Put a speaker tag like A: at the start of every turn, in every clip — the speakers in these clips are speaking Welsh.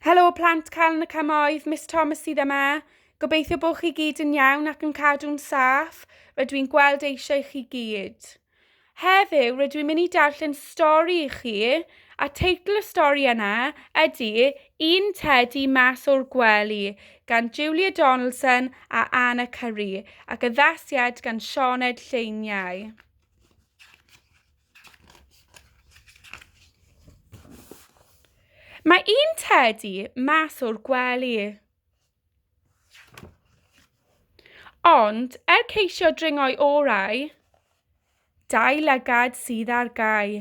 A: Helo plant cael yn y cymoedd, Miss Thomas sydd yma. Gobeithio bod chi gyd yn iawn ac yn cadw'n saff, rydw i'n gweld eisiau chi gyd. Heddiw rydw i'n mynd i darllen stori i chi, a teitl y stori yna ydy Un Tedi Mas o'r Gwely gan Julia Donaldson a Anna Curry ac addasiad gan Sioned Lleiniau. Mae un tedi mas o'r gwely. Ond, er ceisio dringo'i orau, dau lygad sydd ar gau.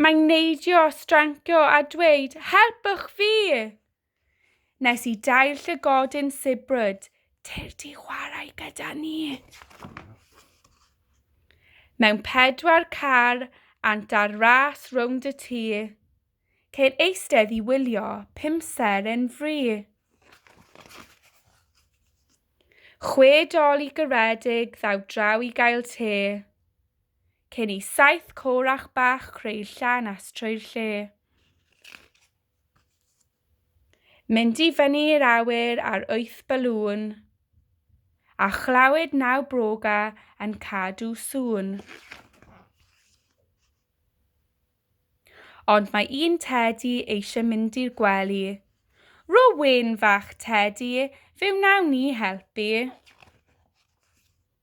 A: Mae'n neidio, strancio a dweud, helpwch fi! Nes i dair llygodyn sibrwd, tir di chwarae gyda ni. Mewn pedwar car, ant ar ras rownd y tŷ. Ceir eistedd i wylio, pum ser yn fri. Chwe dol i gyredig, ddaw draw i gael te. Cyn i saith corach bach creu llan as trwy'r lle. Mynd i fyny i'r awyr ar wyth balŵn, a chlywed naw broga yn cadw sŵn. Ond mae un tedi eisiau mynd i'r gwely. Ro wyn fach tedi, fe wnawn ni helpu.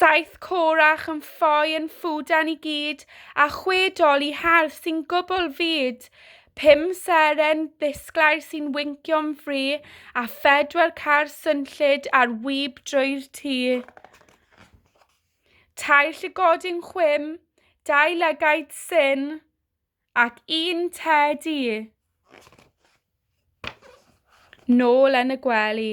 A: Saith corach yn ffoi yn ffwdan i gyd, a chwe dol i hardd sy'n gwbl fud. Pum seren ddisglair sy'n wincio'n fri, a phedwar car swnllyd ar wib drwy'r tŷ. Tair llygodyn chwim, dau lygaid syn, ac un tedi. Nôl yn y gwely.